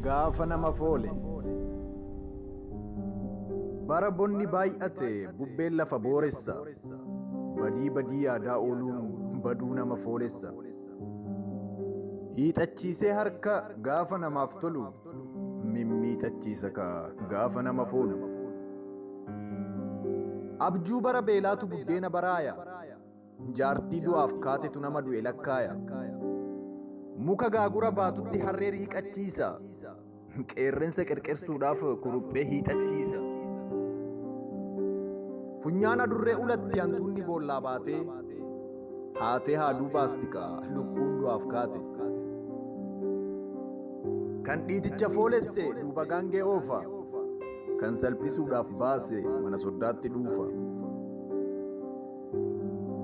Gaafa nama foole. Bara bonni baay'ate bubbeen lafa booressa. Badii badii yaadaa ooluun baduu nama foolessa. Hiixachiisee harka gaafa namaaf tolu mimmiixachiisa ka gaafa nama foolu. Abjuu bara beelaatu buddeena baraaya. Jaartii du'aaf kaatetu nama du'e lakkaaya. Muka gaagura baatutti harree riiqachiisa. Qeerrensa qerqersuudhaaf kuruphee hiixachiisa. Funyaan adurree ulatti hantuunni boollaa baatee haatee haaduu baastika lukkuun du'aaf kaate. Kan dhiiticha foolesse duuba gaangee oofa. Kan salphisuudhaaf baase mana soddaatti dhuufa.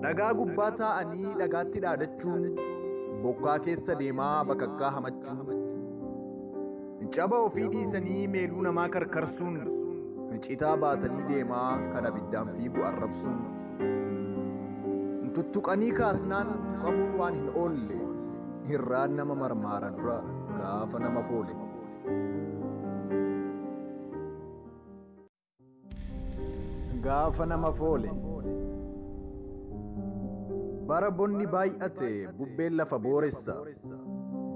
Dhagaa gubbaa taa'anii dhagaatti dhaadachuun bokkaa keessa deemaa bakakkaa hamachuu. Caba ofii dhiisanii meeluu namaa karkarsuun citaa baatanii deemaa kan abiddaan fiigu arrabsuun. Tuttuqanii kaasnaan tuqamuun waan hin oolle hirraan nama marmaara dura gaafa nama foole. Gaafa nama foole. Bara bonni baay'ate bubbeen lafa booressa.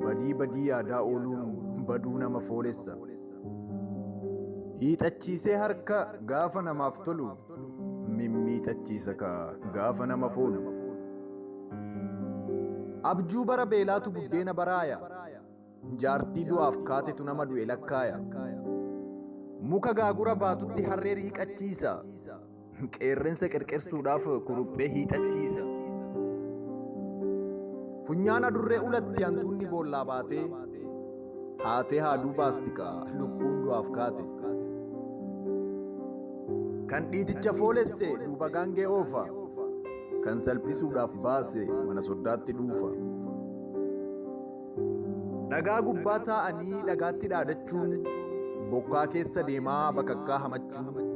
Badii badii yaadaa ooluun baduu nama foolessa. Hiixachiisee harka gaafa namaaf tolu mimmiixachiisa ka gaafa nama foolu. Abjuu bara beelaatu buddeena baraaya. Jaartii du'aaf kaatetu nama du'e lakkaaya. Muka gaagura baatutti harree riiqachiisa. Qeerrensa qerqersuudhaaf kuruphee hiixachiisa. Funyaan adurree ulatti hantuunni boollaa baatee haatee haaduu baastika lukkuun du'aaf kaate. Kan dhiiticha foolesse duuba gaangee oofa. Kan salphisuudhaaf baase mana soddaatti dhuufa. Dhagaa gubbaa taa'anii dhagaatti dhaadachuun bokkaa keessa deemaa bakakkaa hamachuu.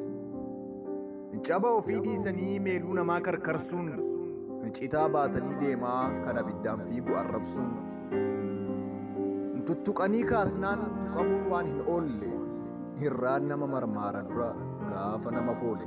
Caba ofii dhiisanii meeluu namaa karkarsuun citaa baatanii deemaa kan abiddaan fiigu arrabsuun. Tuttuqanii kaasnaan tuqamuun waan hin oolle hirraan nama marmaara dura gaafa nama foole.